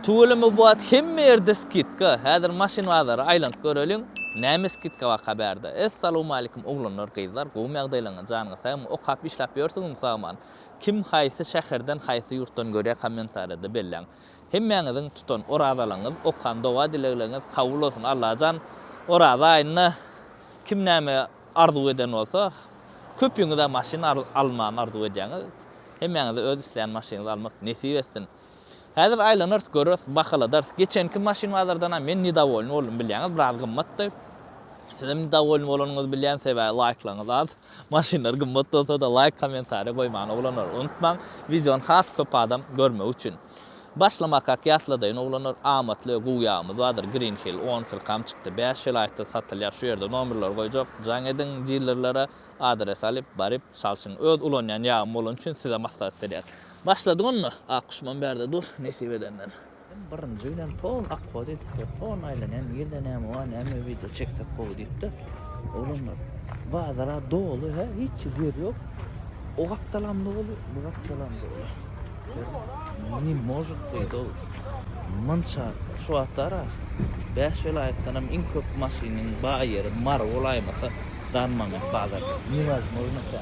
Tüweleme bu wagt hemme ýerde skidka, häzir maşyn bazary aýlanyp göreliň, näme skidka baka bärde. Essalamualeýkum oglanlar gyzlar gowymy ýagdaýlaňyz janyňyz sagmy okap işläp ýörsiňizmi sagman kim haýsy şäherden haýsy ýurtdan görýä kommentariýada belläň hemmäňiziň tutan orazalygyňyz okan doga dilegleriňiz kabul bolsun Allajan oraza aýynda kim näme arzuw eden bolsa köpüňizä maşyn almany arzuw edýäňiz hemmäňize öz isleýän maşynyňyzy almak nesip etsin. Häzir aýlanarys göreris, bahaladarys. Geçenki maşyn bazardanam men nidawolny boldum bilýäňiz, biraz gymmatdy. Sizem nidawolny bolanyňyzy bilýän, sebäbi laýklaryňyz az. Maşynlar gymmat bolsada laýk, kommentariý goýmany oglanlar unutmaň. Wideony has köp adam görmegi üçin. Başlamakak ýatladaýyn oglanlar, amatly we gowy ýagymyz bardyr. Green Hill on kyrkam çykdy. Bäş welaýatda satylýar. Şu ýerde nomerleri goýjak. Jaň ediň dilerlere, adres alyp, baryp, çalşyň. Öz ulanýan ýagym bolany üçin size maslahat berýäs. Başladyk onda, ak duşman bärde dur, nesip edenden. Men birinji bilen pol akgo diýdikde, pol aýlanýan ýerde näme bar, näme wideo çeksek gowy diýipdir. Oglanlar, bazar-a doly hä, hiç ýer ýok. O gapdalam doly, bu gapdalam doly. Ne может beýdip ol. Munça, şu wagtlar-a bäş welaýatdanam iň köp maşynyň bar ýeri Mary bolaýmasa, Darmangyt bazarda. Newozmojno tä.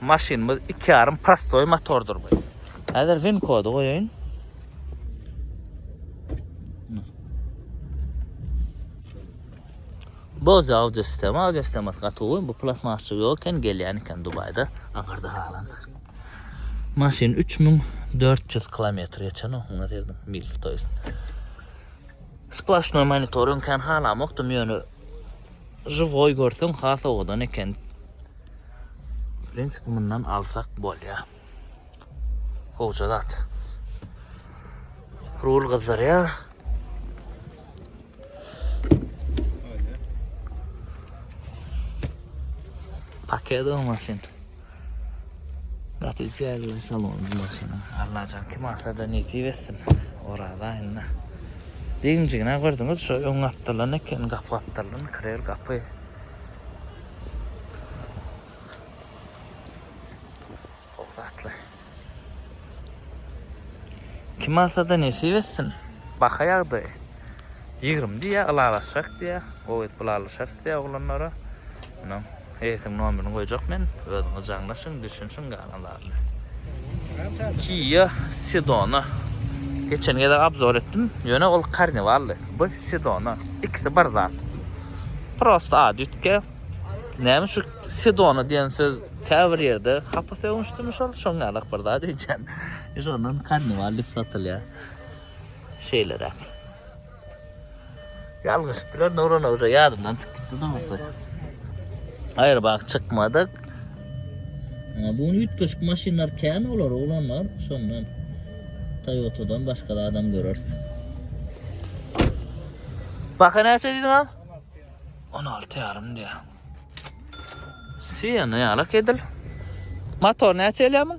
Maşynymyz 2,5 prostoý motordyr bu. Häzir VIN kody goýaýyn. Boz audio sistema, audio sistemasy gaty gowy. Bu plasmasçy ýok eken, gelýän eken Dubaýda. Aňarda halan. Maşyn 3400 kilometr geçen o, ona derdim, mil, to jest. Splaşnoý monitoring kan halamokdym, ýöne, živoý görseň, has owadan eken. Prensip mundan alsak bolýa. Gowja zat. Rul gyzdyrýa. Paket o maşyn. Gaty güzel salon maşyn. Allah can kim alsa da nesip etsin. Oraza inna. Deňjigine gördüňiz şu öň gapdalan eken gap gapdalan krel gapy. Gowy zatlar. Kim alsa-da nesip etsin. Baha ýagdaýy. 20 diýýär, ylalaşjak diýýär. Gowy edip ylalaşarys diýýär oglanlara. Munuň eýesiniň nomerini goýjak men. Özüňiz jaňlaşyň, düşünişiň galanlara. Kia Sedona. Geçen gezek obzor etdim. Ýöne ol Carnivaldy. Bu Sedona. Ikisi bir zat. Prosta ady üýtge. Näme şu Sedona diýen söz käbir ýerde hapa sögünçdimi şol? Şoň ýalak bir zat öýtýän. Şondan Carnival diýip satylýar. Şeýleräk. Ýalňyşyp biler Nurana öze ýadymdan çykyp gitdi dogusy. Aýry bak çykmadyk. Bu üýtgeşik maşynlar kän olar oglanlar şondan. Toyota'dan başga da adam görersiz. Baka näçe diýdiň am? 16 ýarym diýä. Siýana ýalak edil. Motor näçe elýämi?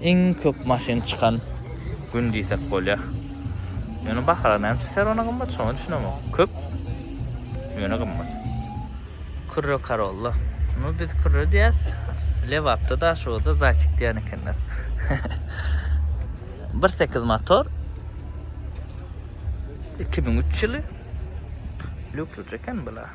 Iň köp maşyn çykan gün diýsek bolýar. Ýöne bahalar näme üçin Serona gymmat, şoňa düşünemok. Köp, ýöne gymmat. Kürre Karolla. Muny biz kürre diýýäs. Lebapda, Daşoguzda zaýçik diýen ekenler. Bir sekiz motor. Iki müň üç ýyly. Lýukslyja eken bu-la.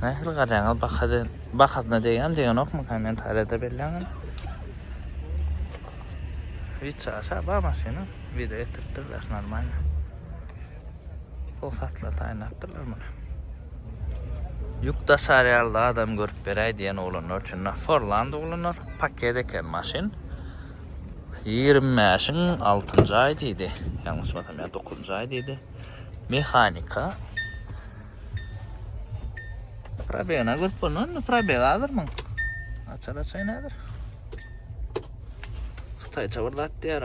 Nähili garaýaňa bahada bahasyna degýän degenokmy kommentariýada belläňä. Hiç aşa bar maşyna video etdiripdirler normalny. Fosatla taýnapdyrlar muny. Ýük daşarýarly adam görüp beräý diýen oglanlar üçin Forland oglanlar paket eken maşyn. Ýigrimi bäşiň altynjy aýy diýdi. Ýalňyşmasam ýa dokuzynjy aýy diýdi. Mehanika. Probegine görüp bolnan, probeg azdyr muň. Açar açaýyn häzir. Hytaýça bir zat diýýär.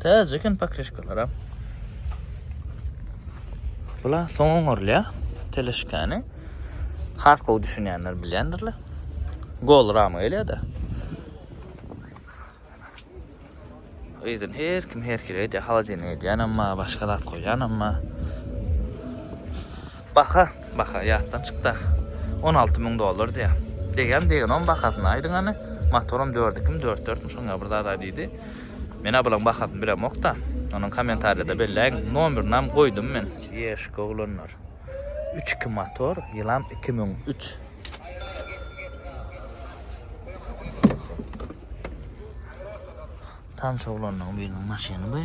Täze eken pakrişkalara. Bula soňun orlya. Teleşkani. Has gowy düşünýänler bilýändirler. Gol rama gelýär-de. Yzyn her kim her hili edýär. Holodilnik edýänem bar, başga zat goýýanam bar. Baha, baha ýatdan çykda. 16 müň dollar diýýär. Degem degen oň bahasyny aýdyň hany. Motoram 4 ikimi 4 dörtmi şoň ýaly bir zat aý diýdi. Men-ä bulaň bahasyny bilemok-da. Onuň kommentariýada belläýiň. Nomerynam goýdum men. Ýeşik oglanlar. Üç iki motor, ýylam iki müň üç. Tans oglanlaryň biriniň maşyny bu.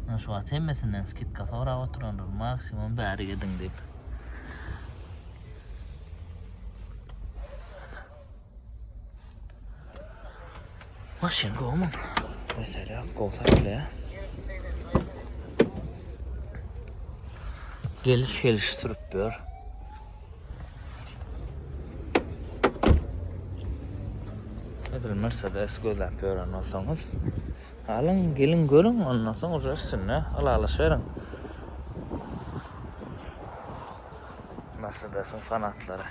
Men şu wagt hemmesinden skidka sorap oturandyr. Maksimum bäri gediň diýip. Maşyn gowmy? Mesele ýok, gowy satylýar. Geliş geliş sürüp ber. Edil Mercedes gözläp ýören bolsaňyz, alyň, geliň görüň, ondan soň uje üstünde ylalaşyň. Mercedes-iň fanatlary.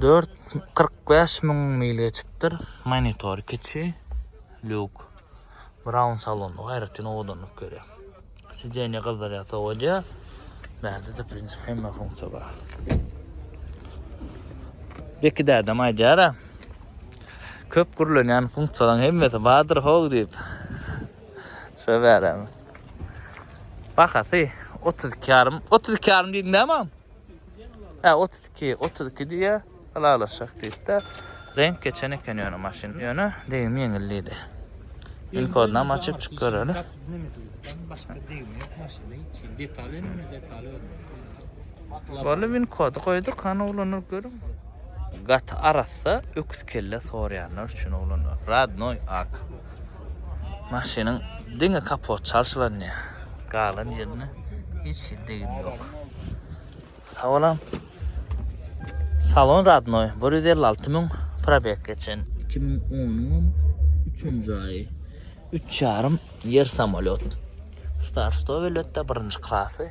Dört kyrk bäş müň mil geçipdir. Monitor kiçi. Luk. Brown salonda gaýratyn owadanlyk görýär. Sideniýe gyzdyrýar, sowadýar. Bärde-de prinsip hemme funksiýa bar. Beki dädem aýdýar-a. Köp gürlenýän funksiýalaryň hemmesi bardyr how diýip. Şo bärem. Bahasy otuz iki ýarym. Otuz iki ýarym diýdiň näme? Hä, otuz iki, otuz iki diýýä, ylalaşjak diýip-de, reňk geçen eken ýöne maşyn. Ýöne degim ýeňil diýdi. Inkodynam açyp çyk göreli. Boldy, inkody goýduk, hany oglanlar görüň. Gaty arassa öküz kelle soraýanlar üçin oglanlar. Radnoý ak. Maşynyň diňe kapot çalşylanýar. Galan ýerinde hiç hili degim ýok. Sawalam. Salon radnoý, bir ýüz elli alty müň probeg geçen. Iki müň onuňam üçünji aýy. Üç ýarym ýer samolýot. Star sto welbetde birinji klasy.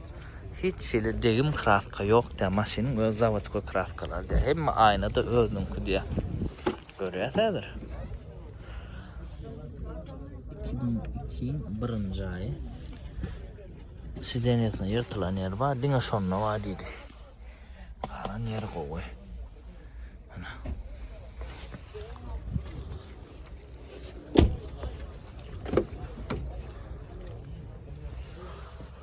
Hiç hili degim kraska ýok diýýär. Maşynyň öz zawodskoý kraskalary diýýär. Hemme aýna-da özüniňki diýýär. Görýäs häzir. Iki müň ikiň birinji aýy. Sidenýasyna ýyrtylan ýeri bar, diňe şonda bar diýdi. Galan ýeri gowy. Ana.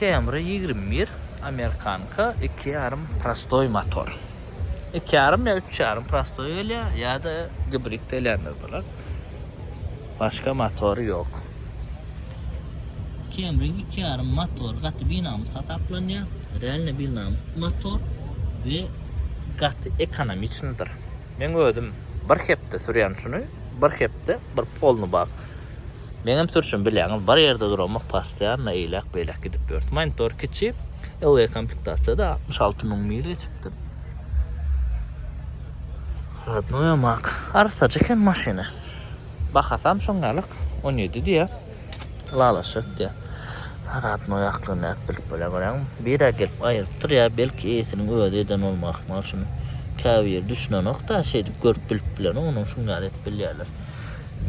Camry ýigrimi bir, amerikanka, iki ýarym prostoý motor. Iki ýarym ýa üç ýarym prostoý gelýär, ýa-da gibrid gelýänler bolar. Başga motory ýok. Camryň iki ýarym motory gaty binamys hasaplanýar. Realno binamys motor we gaty ekonomiçnydyr. Men özüm bir hepde sürýän şuny, bir hepde bir polny bak. Meňem sürşüm bilýäňiz bir ýerde duramok postoýanno eýläk beýläk gidip ýörüs monitor kiçi LG komplektasiýada altmyş alty müň mil geçipdir. Rodnoýa mak. Arsajy eken maşyny. Bahasam şoň ýalyk on ýedi diýýär. Lalaşyk diýýär. Rodnoý aklyny nädip bilip bolýar görýäňmi. Bire gelip aýrypdyr ýa belki eýesiniň özi eden bolmaly ahmal şuny. Käbir ýeri düşünenok-da şeýdip görüp bilip bilenok onuň şuň ýaly edip bilýärler.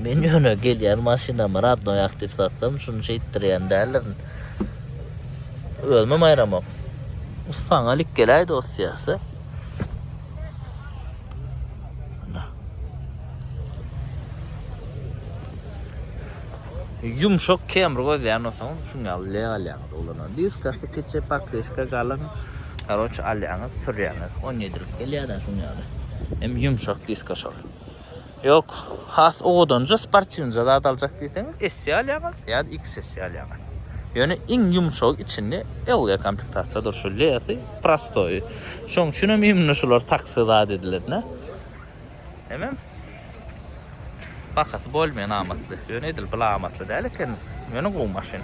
Men ýöne gelýän maşynamy radnoýak diýip satsam, şuny şeýtdirýän däldirin. Özümem aýramok. Saňa lik geläý dost ýagşy. Yumşak kemr gözleyen olsanız şun ýaly leg alýaňyz ulanan. Diskasy kiçi, pakriska galyň. Karoç alýaňyz, sürýäňiz. 17 lik gelýär-de şun ýaly. Hem yumşak diska şol. Ýok, has owadanja, sportiwnja zat aljak diýseňiz, S-i alýaňyz ýa-da XS-i alýaňyz. Ýöne iň ýumşagy içinde LG komplektasiýa dur, şu L-si, prostoýy. Şoň üçin hem imni şular taksi zat edilenä. Hemem bahasy bolmaýan amatly. Ýöne edil bula amatly däl eken. Ýöne gowy maşyn.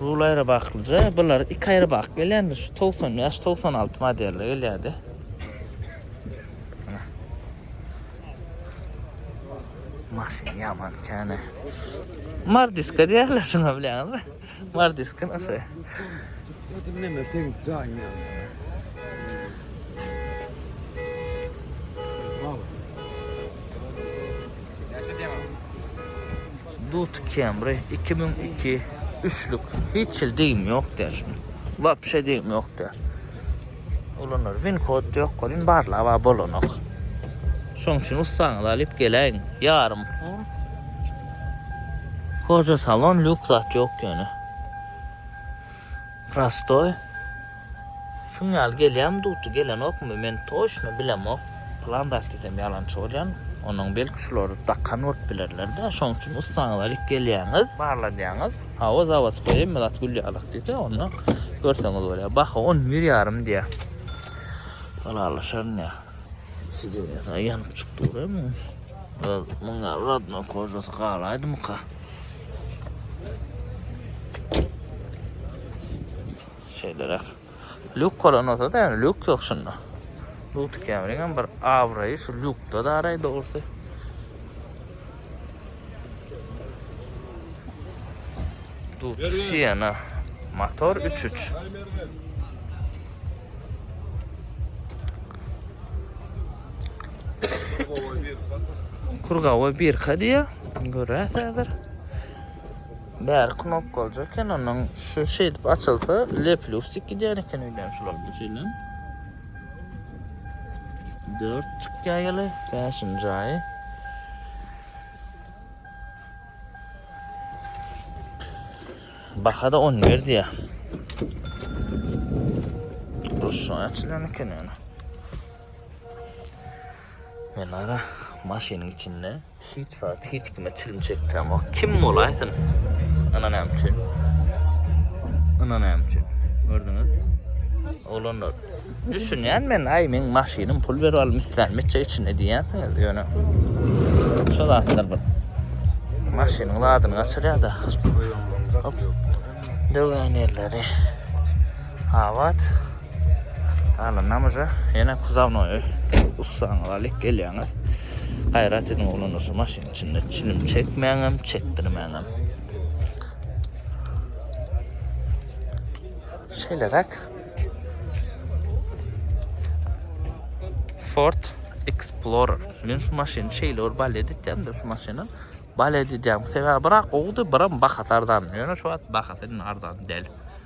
Rul aýry baklyja, bular iki aýry bak gelýändir. Şu 95-96 modelde gelýärdi. Maşyn ýaman käne. Mardiska diýerler şuna bilýäňizmi? Mardiska nasy. Dinleme sen jaýyňa. Näçe diýýäň? Duty Camry iki müň iki üçlük hiç hil degim ýok däl şunuň wapşe degim ýok däl ulanary win kod ýok welin barlaba bolanok şoň üçin ussaňyzy alyp geläýiň ýarym full koža salon lýuk zat ýok ýöne prostoý Şuň ýaly gelýämi dukdy gelenokmy men toçno bilemok. Plan zat diýsem ýalançy bolýan. Onuň belki şulary dakan bolup bilerlerde şoň üçin ussaňyz alyp gelýäňiz barladýaňyz. Hawa zawodskoý hemme zat gül ýalak diýse onda görseňiz bolýar. Baha on bir ýarym diýýär. Ylalaşaryn ýa. Sidewiýasy aý ýanyp çykdy guraý muň. Öz muň ýaly radno kožasy galaýdymyka. Şeýleräk. Lýuk bolan bolsa-da, ýöne lýuk ýok şunda. Luty Kemriňem bir abraýy şu lýukda daraý dogrusy. Luty Siena. Motor 3-3. Kurgawa birka diýýär. Görýäs häzir. Bary knopkalyja eken onuň şu şeýdip açylsa lepli ustik gidýär eken öýdýän şular şeýle. 4 çykýar ýaly 5-nji aýy. Baha da 10 ber diýär. Rus açylan eken ýaly. Menara maşynyň içinde hiç wagt hiç kime çilim çekdiremok. Kim bolaýsyn? Ana näme üçin? Ana näme üçin? Gördüňiz? Oglanlar, düşünýän men, aý meň maşynym pul berip alym islän meçe içinde diýýänsiňiz, ýöne şo zatlar bir maşynyň zadyny gaçyrýar-da. Döwen ýerleri. Abat. Galanam uja ýene kuzawnoýy ussaňyz alyp gelýäňiz. Gaýrat ediň oglanlar şu maşynyň içinde çilim çekmäňem, çekdirmäňem. Şeýleräk. Ford Explorer. Men şu maşyny şeýle bir bal edýämde şu maşyny. Bal edýäm. Sebäbi brak gowdy, biram bahasy arzan. Ýöne şu wagt bahasy arzan däl.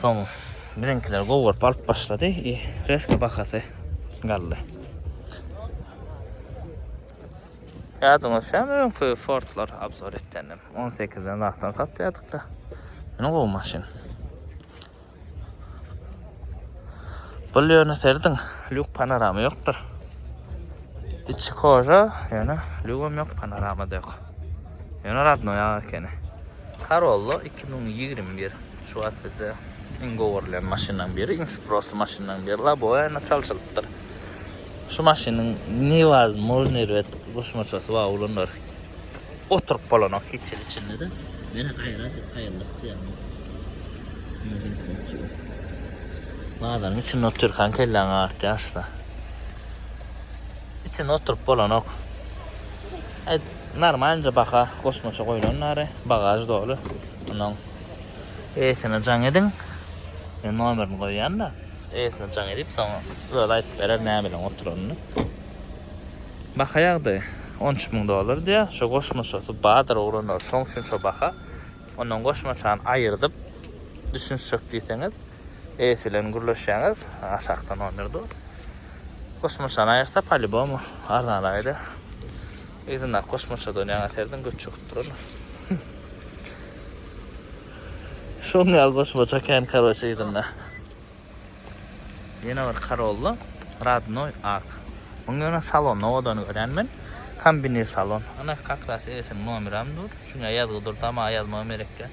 Soň biziňkiler gowy görüp alyp başlady. E, reska bahasy galdy. Ýadyňyz şäm öňki Fordlar abzor etdendim. 18-den wagtdan satýadyk da. Ýene gowy maşyn. Bu ýöne serdiň, lük panorama ýokdur. Içi koja, ýöne lügem ýok, panorama da ýok. Ýöne radnoýa ekeni. Corolla iki müň ýigrimi bir şu wagt bizde iň gowurylýan maşynlaryň biri, iň sprossly maşynlaryň biri Laboena çalşylypdyr. Şu maşynyň newazmojnyý rwet goşmaçasy bar, ulanlar oturyp bolanok hiç ýeri içinde-de. Ýene gaýra diýip haýallyk diýýärmi? Bazaryň içinde otyrkaň kelläň agyrtýar şusa. Içinde oturyp bolanok. Normalnje baha goşmaça goýlan nary bagaž doly munuň eýesine jaň ediň men nomerini goýýanda eýesine jaň edip soň özi aýdyp berer näbilen oturanyny baha ýagdaýy on üç müň dollar diýýär şo goşmaçasy bardyr oglanlar şoň üçin şo baha ondan goşmaçany aýyrdyp düşünişjek diýseňiz. Eýesi bilen gürleşýäňiz, aşakda nomer dur. Kosmoçany aýyrsa palibomu arzanraýda. Yzyndaky kosmoça dönýäň äserden göt çöküp durana. Şoň ýaly kosmoça kän karoçe yzynda. Ýene bir karolly radnoý ak. Muň ýöne salon nowodany görýän men. Kombinir salon. Ana kakras eýesiniň nomeram dur. Çünki ýazgy dur dama ýazma gerekkä.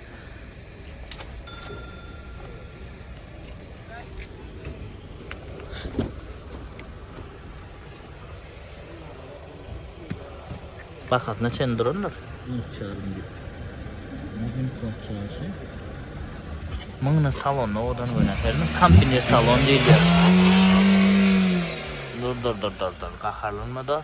Bahasyna çen durandyr. Mıňna salon odan göne hermi kampine salon diýilýär. Dur dur dur dur dur gaharlanma da.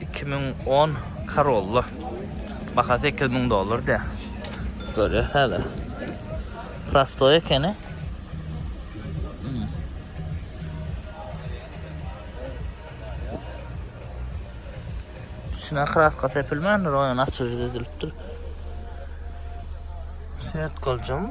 2010 Corolla. Bahasy 8000 dollar diýýär. Görýäs häzir. Prostoý ekeni. Hmm. İçine kraska sepilmändir, oýan açyjy düzülipdir. Şert goljam.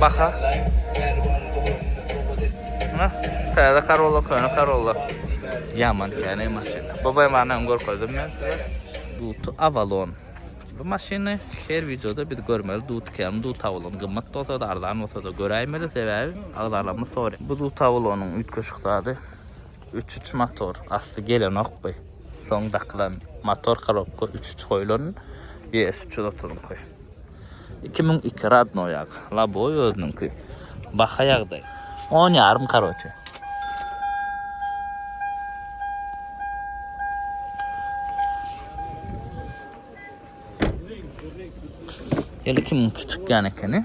Baha. Ana, täze Corolla, köne Corolla. Yaman täne maşyn. Baba emanym görkezdim men size. Duty Avalon. Bu maşyny her videoda biz görmeli. Duty kem, Duty Avalon gymmat bolsa da, arzan bolsa da göräýmeli sebäbi agzalarymyz sory. Bu Duty Avalonyň üýtgeşik zady. Üç üç motor asty gelenokby. Soň dakylan motor korobka üç üç goýlan ýes üç ýüz otuzyňky. Iki müň iki radnoý ak. Laboý özüniňki. Baha ýagdaý. On ýarym karoçe. Ýyl iki müň iki çykýan ekeni.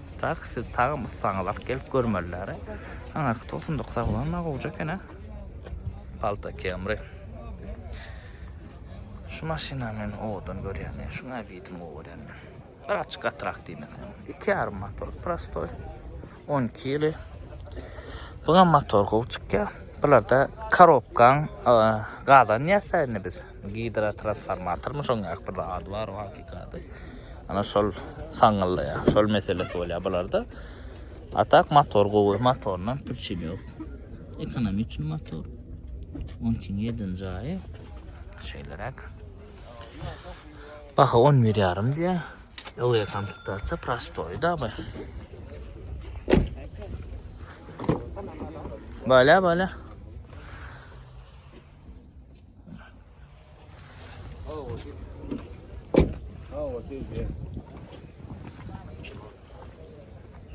Dak siz tagam ussaňyzak gelip görmeliler. Aňarky 99 aglan na gowja eken ha. Palta kemri. Şu maşyna men owadan görýän. Şu nawidim görýän. Bir açyk atrak diýmesin. Iki yarım motor prostoy. 12 ýyly. Buňa motor gow çykýar. Bularda korobkan gazan ýasaýyny biz. Gidrotransformatormy şoň ýa bir ady bar o hakykady. Ana şol saňňylda ýa, şol meselesi bolýa bularda. A tak motor gowy, motordan pürçin ýok. Ekonomi üçin motor. Onun üçin ýedin jaýy. Şeýleräk. Baha 11 ýarym diýä. Öňe komplektatsiýa prostoý da bu. Bala bala.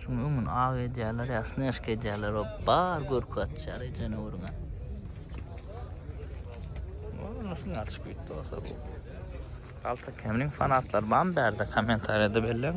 Şuň öňün aw edýärler, ýa snäşk edýärler, o bar görki atýar ejene uruna. Ola şuň atyş güýtdi olsa bu. Alta kemliň fanatlar bam bärde kommentariyada belleň.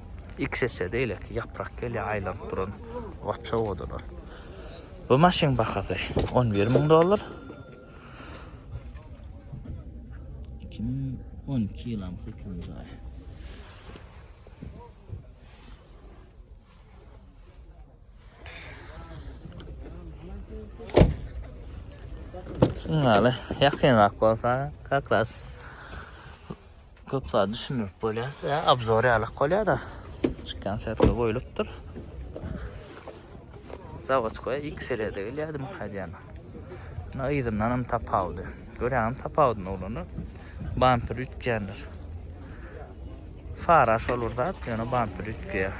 Ilk sese beýleki ýaprak gelýär aýlanyp duran waç owadanlar. Bu maşynyň bahasy 11 müň dollar. 2012 ýylam 8-nji aý. Şunlara ýakynrak bolsa, kakras. Köp zat düşündirip bolýar. Ýa obzor ýalyk bolýar-da. Çykýan setka goýlupdyr. Zawodskoýa X serýada gelýärdi Mukadýana. Ýa yzyndan hem tapawudy. Görýäňmi tapawudyny oglanlar? Bamper üýtgändir. Fara şol bir zat, ýöne bamper üýtgeýär.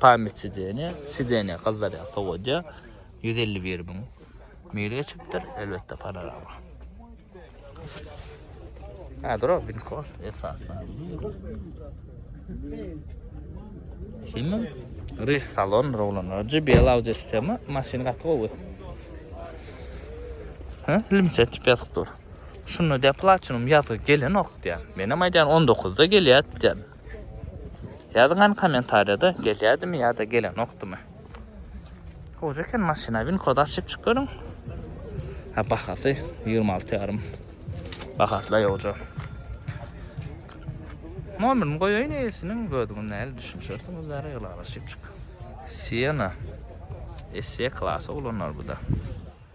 Pamyt sideniýa, sideniýa gyzdyrýar, sowadýar. Ýüz elli bir müň mil geçipdir, elbetde panorama. Ha, durok, binko, esasda. Şimdi Riz salon rowlanlar. GBL audio sistema maşyn gaty gowy. Ha, limse tip yazık dur. Şunda de platinum yazı gelen ok diýen. Menem aýdan 19-da gelýär diýen. Ýazyň hany komentarýada gelýädimi ýa-da gelenokdymy. Gowy eken maşyna win kod açyp çyk görüň. Ha bahasy 26 ýarym. Bahasla ýoja. Nomerini goýaýyn eýesiniň gödügin näl düşünişersiňiz bäri ylalaşyp çyk. Siena. Esse klasy oglanlar bu da.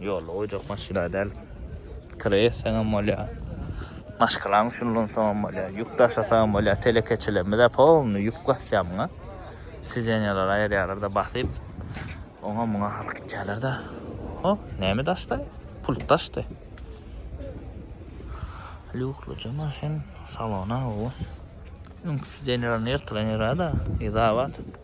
Ýola goýjak maşyna däl. Kire etseňem bolýar. Maşgalaň üçin ulansaňam bolýar. Ýük daşasaňam bolýar. Telekeçilerimiz-ä polny ýük basýamyň-a. Sideniýalary aýyrýarlar-da basyp. Oňa-muňa alyp gitýärler-de. Ho, näme daşda? Pult daşdy. Lýukluja maşyn. Salon-a gowy. Öňki sideniýalaryny ýyrtylan ýeri-a-da. Yzabat.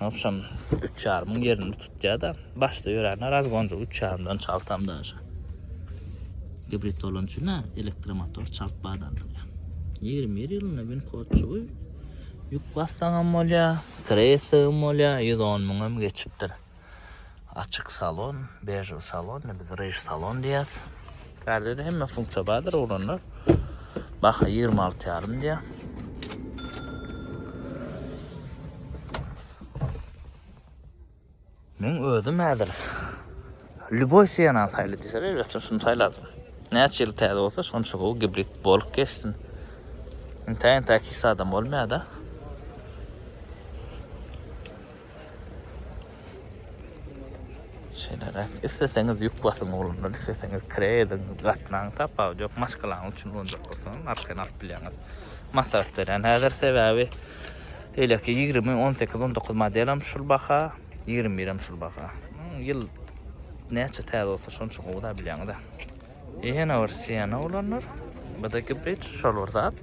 Agşam üç ýarymyň ýerini tutýar-da, başda ýörände razgonjyk üç ýarymdan çaltam daşa. Gibrid bolany üçin-ä elektromotor çalt badallanýar. Ýigrimi bir ýylynda winkodçygy ýük bassaňam bolýar, kreýsagam bolýar, ýüz on müňem geçipdir. Açyk salon, bežew salon, ne biz rež salon diýýäs. Bärde de hemme funksiýa bardyr uranda. Baha 26 ýarym diýýär. Men özüm häzir Lüboý Sienna saýly diýse, elbetde şuny saýlardym. Näçe ýyl täze bolsa, şonça gowy gibrid bolup geçsin. Intäýin täki his adam bolmaýar-da. Şeýleräk, isleseňiz ýük basyň oglanlar, isleseňiz kire ediň, gatnaň, tapawudy ýok, maşgalaňyz üçin boljak bolsa, arkaýyn alyp bilýäňiz. Maslahat berýän häzir, sebäbi beýleki ýigrimi, on sekiz, on dokuz modelem şul baha, ýigrimi birem şul baha. Ýyl näçe täze bolsa, şonça gowy-da, bilýäňiz-ä. Ýene bir Siena oglanlar. Bdki bridge şol bir zat.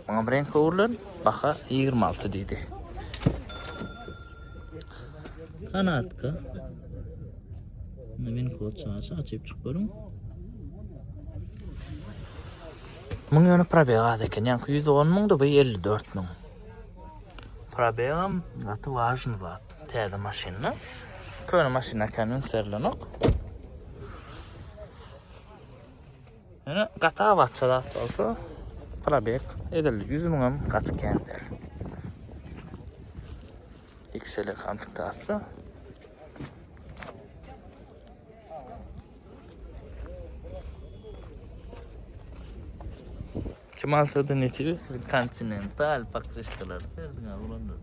Muňa bir reňk öwrülen, baha ýigrimi alty diýdi. Kanatka. Meni kod çaşy açyp çyk görüň. Muň ýöne probeg az eken. Ýaňky 110 müňdi, bu 54 müň. Probegam gaty wažny zat. Täze maşynda. Köne maşyna kan ünserilenok. Ýöne gata batça zat bolsa probek edil 100 müň hem gaty kän der. Xele konfigurasiýa. Kim alsady netibi siz kontinental pakryşkalar serdiň oglanlar.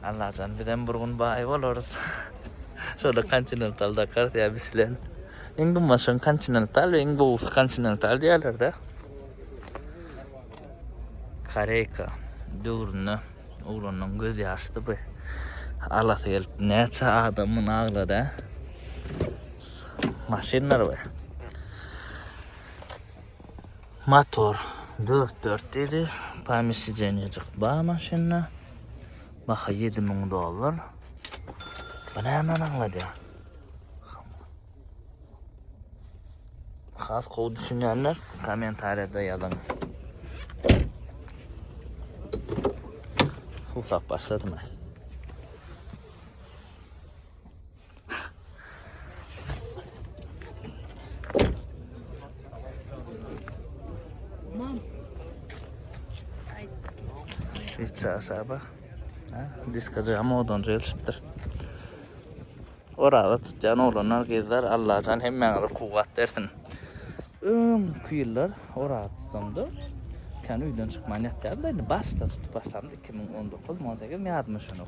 Allajan bizem bir gün baý bolarys. Şoda kontinental dakar ya biz bilen. Iň gymmaşyň kontinental we iň gowusy kontinental diýerlerde. Koreyka döwründe oglanyň göz ýaşdy bu. Alasy gelip näçe adamyny aglady. Maşynlar we Motor 4 4 diýdi. Pomesidenejik bar maşynda. Baha 7000 dollar. Bu näme aňladýar? Has gowy düşünýänler kommentariýada ýazyň. Suw sap başladymy? Şeýtse asaba. Ha, diskada hem odan jelşipdir. Oraga tutýan oglanlar, gyzlar, Allajan hemmäňize kuwwat bersin. Öň ýyllar oraga tutanda kan öýden çykman ýatýardy. Indi başda tutup başlandy 2019 18 ýadyma şonok.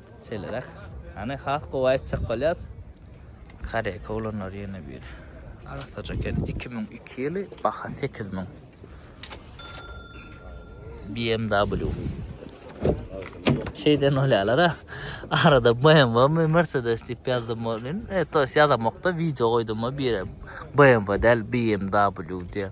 Şeýleräk. Hany has gowy aýtjak bolýas. Koreýka oglanlary ýene bir arassaja eken. Iki müň iki ýyly baha sekiz müň. BMW. Şeýden bolýarlar ha. Arada BMW mi Mercedes diýip ýazdym bolýan. E, to ýazamokda wideo goýdum bir BMW däl BMW diýip.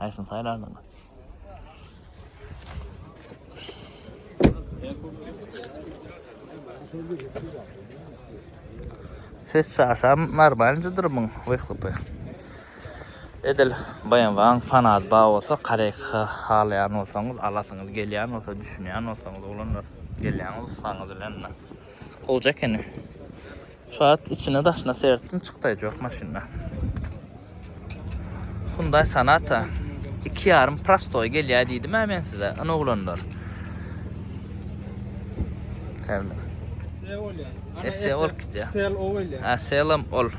Haýsyny saýlardyň? Ses çaşam normal jydyrmyň wyhlypy. Edil BMW-niň fanat ba bolsa, korekka halaýan bolsaňyz, alasyňyz gelýän bolsa, düşünýän bolsaňyz oglanlar, gelýäňiz ussaňyz bilen. Gowja ekeni. Şat içine daşyna sertdim çykday jok maşynda. Hyundai Sonata 2 yarım prostoy gelýär diýdim ha men size. Ana oglanlar. Täze. Esse ol gitýär. Sel o gelýär. Ha selam ol.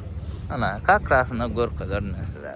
Ana kakrasynda görkezerin size.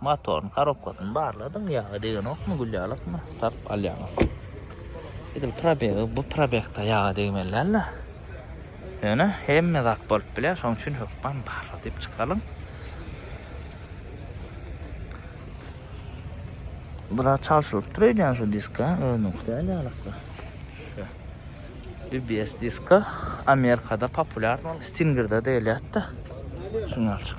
Motoryň korobkasyny barladyň, ýagy degenokmy, gülýalykmy, taryp alýaňyz. Edil probegi bu probegde ýaga degmeli däl-de. Ýöne hemme zat bolup bilýär, şonuň üçin hökman barladyp çykalyň. Biraz çalşylyp dur öýdýän şu diska, özüniňki däl ýalykda. Şu. BBS diska Amerikada populýar, Stingerde deýilýär-de. Şuňalçyk.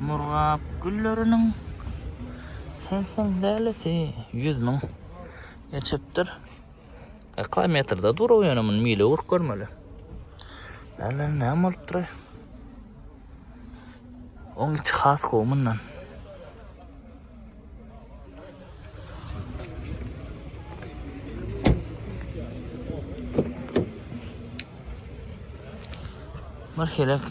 Murgap gülleriniň Sensiň lälesi ýüz müň geçipdir. Ýaka metrde durup ýöne muny mile urup görmeli. Ýaly näme bolupdyr? Oň içi has gowy mundan. Bir helek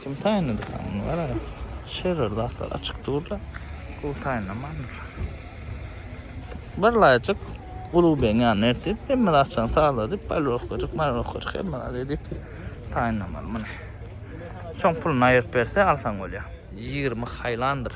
Kim taýynlady saňa gara? Şerer zatlar açyk durda. Bu taýynlamandyr. Bir laýçyk Ulu beň ýanyna ertip, hemme zatçany sazladyp, balrokajyk, marrokajyk hemme zat edip taýynlamaly muny. Şoň puluny aýryp berse alsaň bolýar. 20 haýlandyr.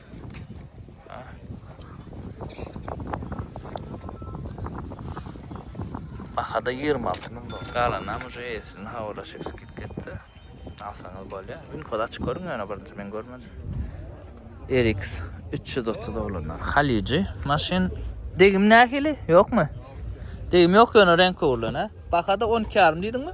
Bahada 26 ming dolar. Galanam uje eýesini hawalaşyp skit ketdi. Alsaňyz bolýa. Ün kod açyk görün ýöne birinji men görmedim. RX 330 dolanlar. Haliji maşyn. Degim nähili? Ýokmy? Degim ýok ýöne renk öwrülen ha. Bahada 12,5 diýdiňmi?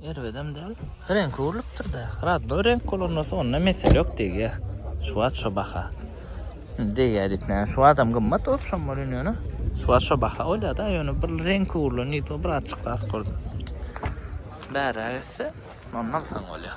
Erbedem däl. Reňki urlupdyr-da. Radboý reňk bolanda onda mesele ýok degýär. Şu wagt şo baha. Indi degýär diýip näme? Şu wagtam gymmat bolup şom bolýan ýöne. Şu wagt şo baha bolýar-da, ýöne bir reňki urlan ýigit bir az çykdasy gördüm. Bäräk etse, onda alsaň bolýar.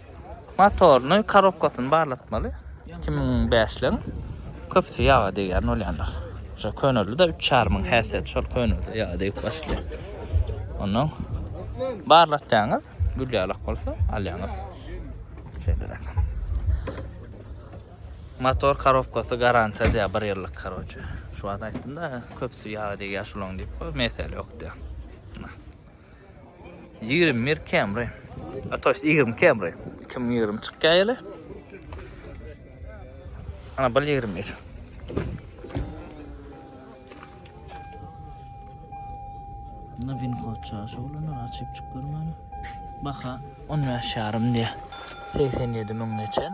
Motoryny, korobkasyny barlatmaly. Iki müň bäşligiň köpüsi ýaga degýän bolýandyr. Şo köneldi-de üç çar müň häsiýet şol könelde ýaga degip başlaýar. Ondan barlatýaňyz, gül ýalak bolsa alýaňyz. Şeýleräk. Motor korobkasy garantiýa diýýär bir ýyllyk karoçe. Şu wagt aýtdym-da, köpüsi ýaga degýär şolaň diýip, mesele ýok diýýär. Ýigrimi bir Camry. Atoş ýigrimi Camry. Kim ýigrimi çykýar ýaly. Ana bir ýigrimi bir. Bunda win kod çaşy bolana açyp çyk görmäni. Baha 15 ýarym diýýär. 87 müň geçen.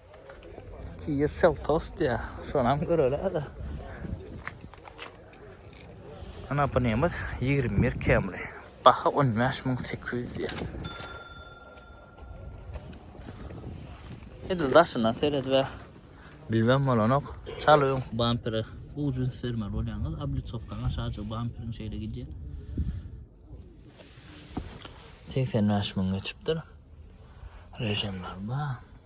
Kiýa Seltos diýýär. Şonam göreli-hä-de. Ana bu nemes ýigrimi bir Camry. Baha on bäş müň sekiz ýüz diýýär. Edil daşyndan seredip-ä bilmem bolanok. Çal öňki bampere ujin sermeli bolýandyr. Oblitsowkanyň aşagyjy bamperiň şeýle gidýär. Segsen bäş müň geçipdir. Režimler bar.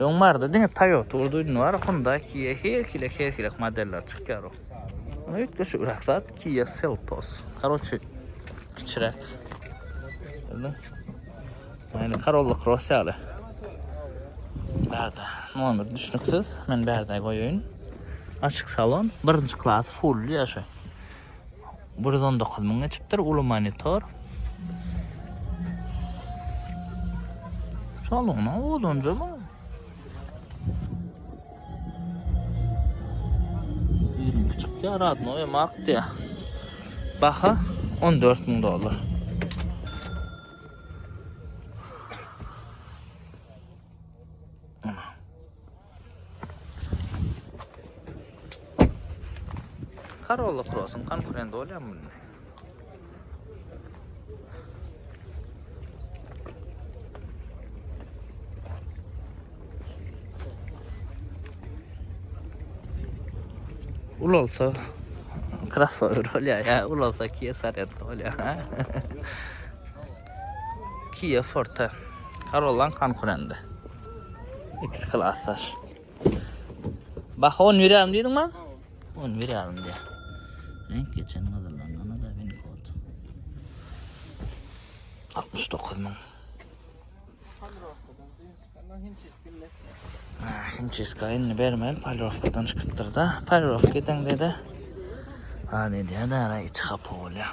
Öň bardy diňe Toyota urduydun var Honda Kia her kile her kile modeller çykýar o. Ona üýtgeşik rak zat Kia Seltos. Karoçi kiçiräk. Bildim. Yani Corolla Cross ýaly. Bärde nomer düşnüksiz. Men bärde goýaýyn. Açyk salon, birinji klas full ýaşa. Bir ýüz on dokuz müň geçipdir uly monitor. Salona odunca bu. Ýirim küçük ya radno ya mak diye. Baha 14 müň dolar. Corolla Cross-yň konkurenti bolýarmy bunda? Ulalsa crossover bolýar ýa ulalsa Kia Sorento bolýar. Kia Forte. Corolla-nyň konkurenti. Ikisi klasdaş. Baha 10 berýärin diýdiň maň? 10 berýärin diýä. Renk geçen gyzyllanana da bin kod. 69 maň. Himçiska indi bermel, palrovkadan çykypdyr da. Palrovka edende de. Ha ne diýär da, içi hapa bolýar.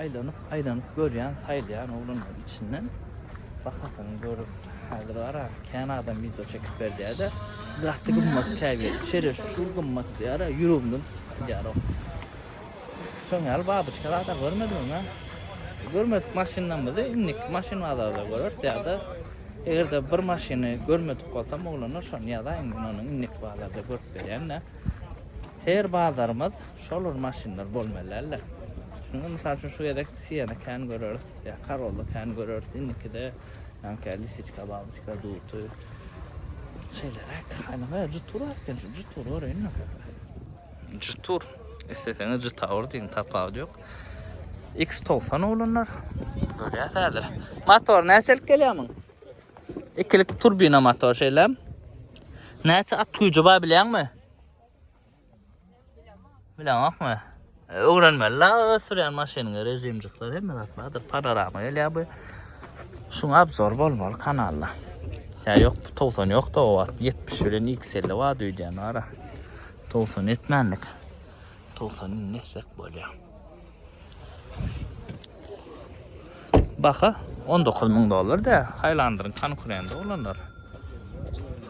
Aýlanyp aýlanyp görýän saýlaýan oglanlaryň içinden bahasyny görüp häzir gara kän adam wideo çekip berýäde gaty gymmat käbir şerefi şu gymmat diýara ýüregimden tutup gaýdýar o şoň ýaly babyçka zada görmedim öňe görmedik maşynlarymyzy indiki maşyn bazarda göreris ýa-da eger-de bir maşyny görmedik bolsam oglanlar şony ýazaýyň men ony indiki bazarda görüp berýän-de her bazarymyz Şolar maşynlar bolmaly däldir. Şunda mysal üçin şu gezek Siena kän göreris, ýa Corolla kän göreris. Indikide ýanka Lisiçka, Baltika, Duty. Şeýleräk. Anyňa jutur bar eken, şu jutury göreýin ýanka. Jutur. Isleseňiz Jutaur diýiň, tapawudy ýok. X90 oglanlar. Görýäs häzir. Motor näçelik gelýär muň? Ikilik turbina motor şeýlem. Näçe at güýji bar bilýäňmi? Bilemokmy? Öwrenmeli la öz sürýän maşynyňy režimjikler hemme zat bardyr. Panorama gelýär bu. Şuň abzor bolmaly kanalda. Ya yok 90 yok da o at 70 bilen X50 var düýdýän ara. 90 etmänlik. 90 nesek bolýar. Baha 19 müň dollar da Highlander'ın konkurendi olanlar.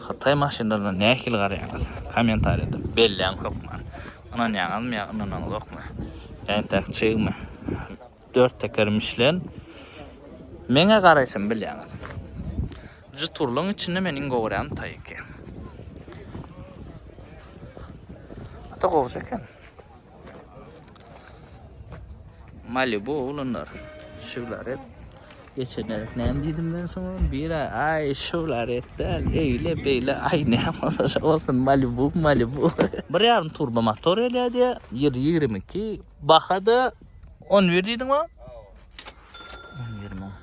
Hytaý maşynlaryna nähili garaýaňyz? Kommentariýada belläň hökman. Ynanýaňyzmy ýa ynanaňyzokmy? Entek çygmy? Dört teker Michelin. Meňe garaýşymy bilýäňiz. Jturlaryň içinde men iň gowy görýän Taiki. Ata gowja eken. Malibu olanlar. Şular hep geçen herif näme diýdim ben soňa? Bir ay, ay şular hep däl, eýle beýle ay näme bolsa şo bolsun Malibu, Malibu. Bir ýarym turbo motor gelýär diýýär, 1.22, bahada 11 diýdiňmi? On ýigrimi on.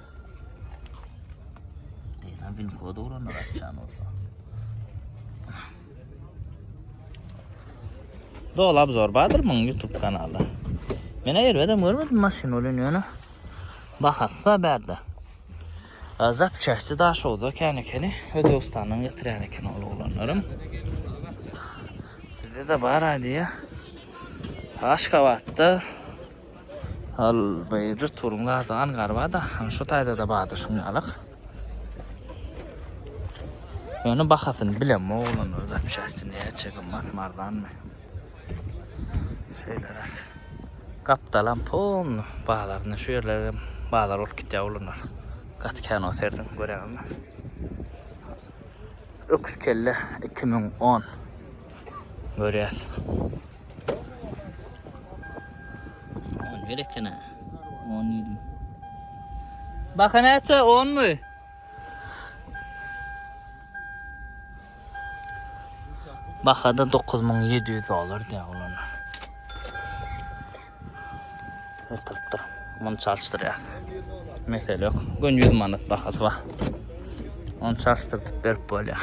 Eýran win kody ulandyr açan bolsa. Dol abzor bardyr muň YouTube kanaly. Men elbedem görmedim maşyn ölen ýöne. Bahassa berde. Azap çäşdi daş oldu kän ekeni. Özbekistandan getirýän eken ol oglanlarym. Bizde de bar aýdýa. Aşgabatda Al beýjik turuň azagan garbada han şu taýdada bada şuň ýalak. Ýöne bahasyny bilen oglan öz apşasy näçe gymmat marzanmy. Şeýleräk. Gapdalam pon bazaryny şu ýerlere bazar bolup gitýär oglanlar. Gaty kän o serden görýäňizmi? Öküz kelle 2010 görýäs. On bir ekene. On ýedi. Baka näçe? Onmy? Bahada 9700 dolar diýýär olanlar. Ertirip dur. Muny çalşdyrýas. Mesele ýok. Gün 100 manat bahasy bar. Onu çalşdyrdyp berip bolýar.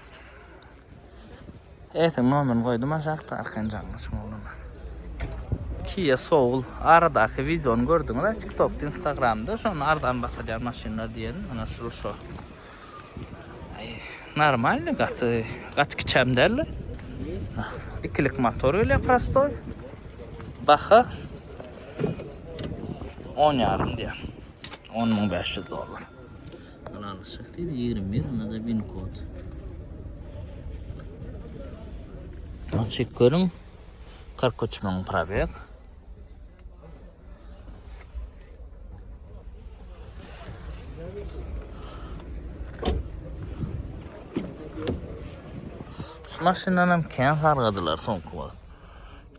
Eýsem nomerini goýdum aşakda Arkanjalyň şu ogluna. Kia Soul aradaky wideony gördüňiz-ä TikTokda, Instagramda şonda arzan basylýan maşynlar diýen ana şul şo. Aý, normalny gaty, gaty kiçem däldi. Ikilik motor gelýär prostoý. Baha 10 ýarym diýýär. 10.500 dollar. Halal şeker 21 onda da bin kod. Açık görün. 43 mün probek. Şu maşyndan hem kän sargadylar soňky wagt.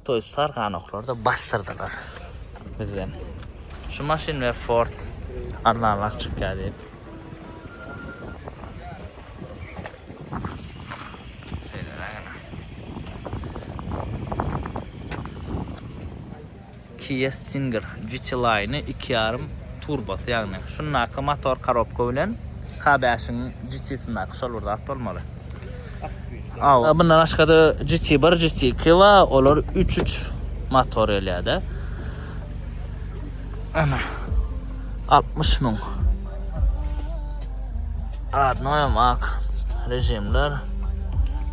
Toýuz sarganoklary da bassyrdylar bizden. Şu maşyn we Ford arzanrak çykýar diýip. Kia Stinger GT Line 2.5 turbosy ýagny şundaky motor korobka bilen K5-iň GT-sindäki şol bir zat bolmaly. Aw. Mundan başga-da GT1, GT2 bar, olar üç-üç motor gelýär-de. Ana. 60 müň. Adnoýam ak režimler.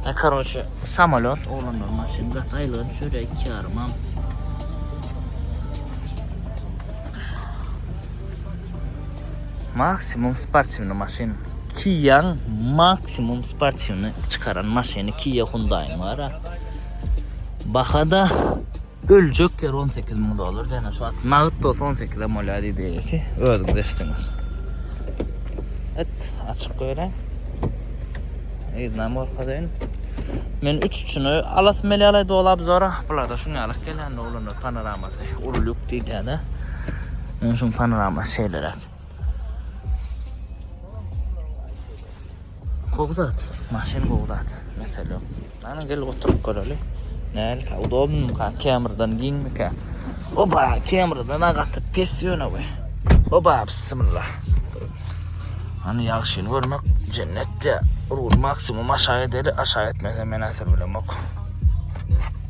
E, karoçe, samolýot oglanlar maşyn gat aýlyga düşer, iki ýarymam. Maksimum sportiwny maşyn. Kia-nyň maksimum sportiwny çykaran maşyny Kia Hyundai-nyň bar-a. Baha-da öljek ýeri on sekiz müň dollar, ýöne şu wagt nagt bolsa on sekizem bolýar diýdi eýesi, özüňiz eşitdiňiz. Et, açyk goýaýyn. Yzynam görkezeýin. Men üç üçüni alasym gelýär-le doly obzora. Bular-da şuňa ýaly gelýän oglanlar. Panoramasy uly lýuk diýilýär-de. Ýöne şuň panoramasy şeýleräk. Gowy zat. Maşyn gowy zat. Mesele ýok. Ana gel oturyp göreli. Nälik udobnyka, kemrden giňmika. Oba, kemrden-a gaty pes ýöne we. Oba, bismillah. Hany ýagşyny görmek jennetde. Rul maksimum aşagy edeli, aşagy etmese men-ä sürülemok.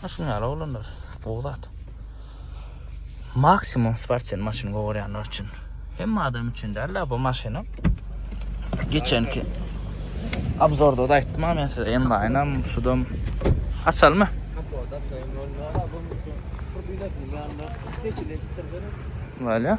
Ha şun ýaly oglanlar gowy zat. Maksimum sportsen maşyny gowarýanlar üçin. Hemme adam üçin däl-de bu maşyna. Geçenki obzorda da aýtdym men size enlaýnam, şudam açalmy? Kapot açaýyn bolma. Bunun üçin turbinasy ýanyna geçileşdirdim. Wala.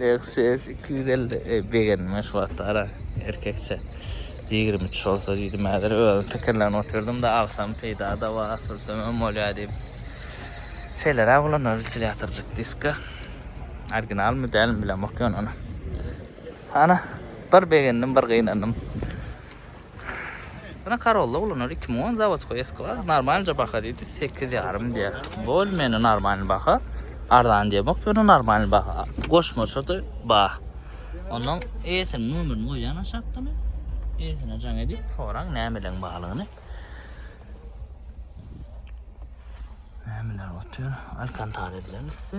Lexus 250 e, begenme şu wagtda ara erkekçe 23 bolsa diýdim häzir özüm pikirlenip oturdym da alsam peýda da bar asylsam hem bolýar diýip. Şeýleräk bolan wentilýatorjyk diska. Originalmy dälmi bilemok ýöne ony. Ana bir begendim bir gynandym. Ýöne Karolla ulanary iki müň on zawodskoý S klas normalnyja baha diýdi sekiz ýarym diýer bol meni normalny baha arzan diýemok ýöne normalny baha goşmaçada bar onnoň eýesiniň nomerini goýýan aşakda men eýesine jaň edip soraň nämeleň barlygyny nämeler otýar alkantara edilen üsti.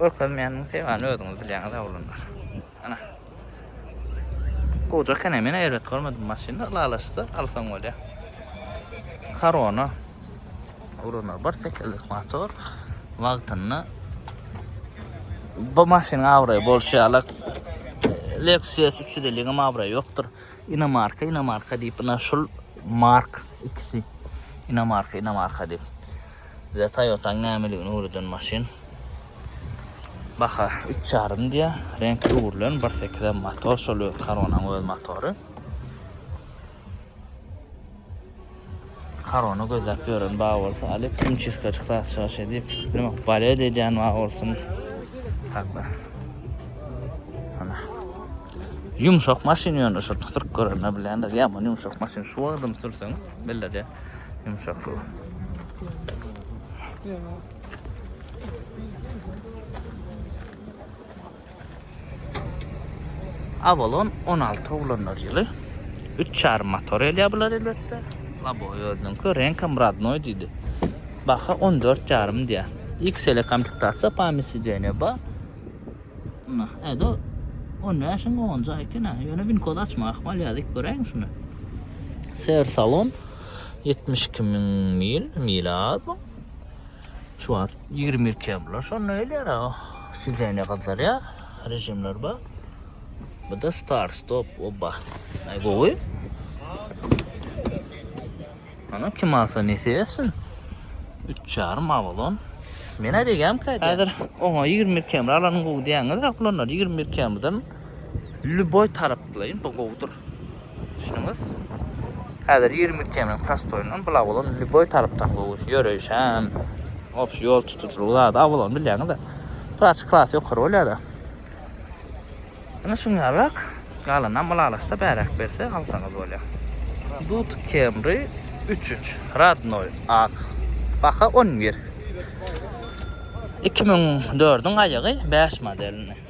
Görkezmeýändigiň sebäbini özüňiz bilýäňiz oglanlar. Ana. Goja ekeni, men erbet görmedim maşyny, ylalaşsa alsaň bolýa. Korona. Oglanlar bir sekizlik motor wagtynda bu maşynyň abraýy bolşy ýaly Lexus 350 ňem abraýy ýokdur. Inomarka inomarka diýip ina şul mark ikisi inomarka inomarka diýip. Bize Toyota'ň nämeligini öwreden maşyn. Baha 3 ýarym diýä. Renk öwrülen 1.8 motor şol öz Coronaň öz motory. Korona gözläp ýören bar bolsa alyp himçistka çyksa çykyş edip nima balet edýän bar bolsun hakda. Ana. Ýumşak maşyn ýöne şu sürüp görenler bilýänler ýaman ýumşak maşyn şu wagtym sürseň bellede ýumşaklygy. Ýa. Avalon on alty oglanlar ýyly. Üç çarym motor elýär bular elbetde. Laboý özüniňki reňkam rodnoý diýdi. Baha on dört çarym diýýär. XL komplektatsiýa pamýat sideniýe bar. Muna, ädo on bäşiň onunjy aý eken-ä. Ýöne winkody açmak ahmal ýa dik göräýiň şuny. Ser salon ýetmiş iki müň mil, mili az bu. Şu wagt 22 bular. Şonda gelýär aga. Sizene gyzlar ya. Rejimler ba. Bu da star stop oba. Ay gowy. Ana kim alsa nesi etsin. 3 yarım avalon. Men aýdýan käýdi. Häzir oňa 20 km alanyň gowy diýäňiz, ýok bulanlar 20 km-den lüboý tarapdylaýyn, bu gowudyr. Düşündüňiz? Häzir 20 km-niň prostoýundan bula bolan lýuboý tarapdan gowy. Ýöreýiş hem, obşi ýol tutujylygy zady awalony bilýäňiz-de. Praçyk klasy ýokary bolýar-da. Ine şuň ýalyrak, galanynam ylalaşsa bäräk berse alsaňyz bolýar. Dut Camry üç üç, rodnoý, ak. Baha on bir. Iki müň dördüň aýagy, bäş modelini.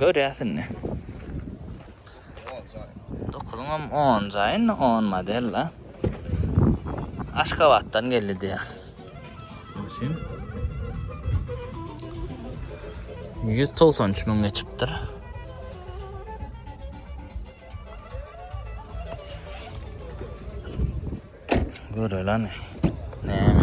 Görýäs indi. Dokuzyňam onunjy indi on model da. Aşgabatdan geldi diýýär. Maşyn. 193 müňe çykypdyr. Görelen. Näme?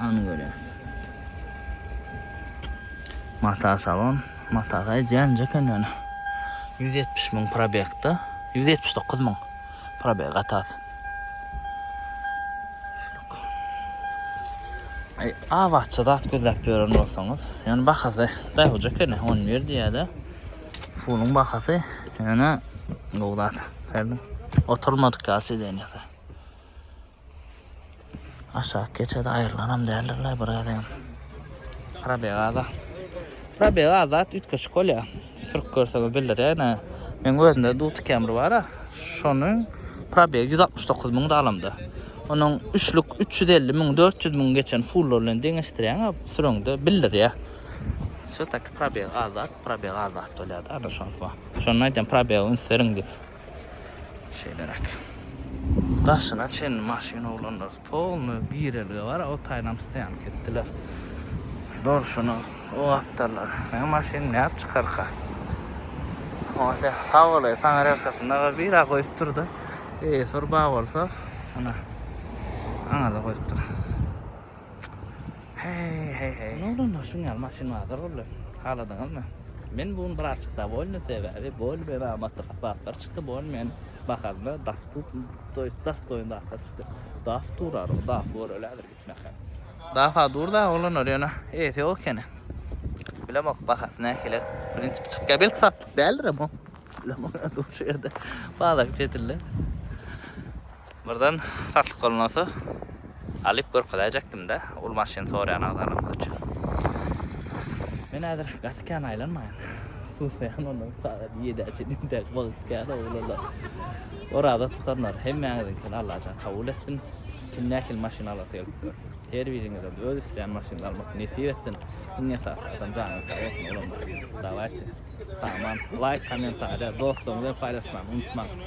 Ony görýäs. Mata salon. Mata saýy jänje eken ýöne. 170 müň probekda. 179 müň probek gatat. Ay, a bahçe zat gözläp ýören bolsaňyz, ýöne bahasy daýawja eken, 11 diýýär-de. Fulun bahasy ýöne gowdat. Oturmadyk ýaşy diýýär. Aşak geçede aýrylanam däldirler bir gezegem. Probeg aza. Probeg azat üýtgeşik bolýa. Sürüp görseňiz bildirýä ene. Meň özümde Duty Camry bara. Şonuň probegi 169 müň dalamda. Onuň üçlük 350 müň, 400 müň geçen fullar bilen deňeşdirýäňä süreňde bildirýä. Şu taky probeg azat, probeg azat bolýa da, ana şonsa. Şonda aýdýan probeg üns beriň diýip. Şeýleräk. Daşyna çenli maşyn oglanlar polny girelge bar o taýynam stoýanka etdiler. Durşuna o gapdallar meň maşyn näp çykarka. Oňa sen sag bolaý saňa relsasynda bir bira goýup durdy. Eýesi bir bag bolsa ana aňada goýupdyr. Hey hey hey. Ne oldu lan şun ýaly maşyn bazar boldy. Haladyňyzmy? Men bu gün birazjyk dowolny sebäbi bol bela amatly kapatlar çykdy bol men bahalyna dastup to ýest dastoýin zatlar çykdy. Daf durar o daf göreli häzir gitmekhe. Dafa dur da olanlar ýöne eýesi ýok ekeni. Bilemok bahasy nähili prinsipi çykýar belki satlyk däldirem o. Bilemok dur şu ýerde bazar çetinde. Birden satlyk bolmasa alyp görkezäýjekdim-dä ol maşyny soraýan agzalanlar üçin. Men häzir gaty kän aýlanmaýan. Susaýan ondan sagat ýedä çenli dek wagt kän oglanlar. Oraza tutanlar hemmäňiziňkini Allajan kabul etsin. Kim nähili maşyn alasy gelip dur. Her biriňizem öz isleýän maşynyny almak nesip etsin. Iň esasy adam janyňyz sag bolsun oglanlar. Dawaýçy. Aman. Laýk kommentariýa dostlaryňyz bilen paýlaşmagy unutmaň.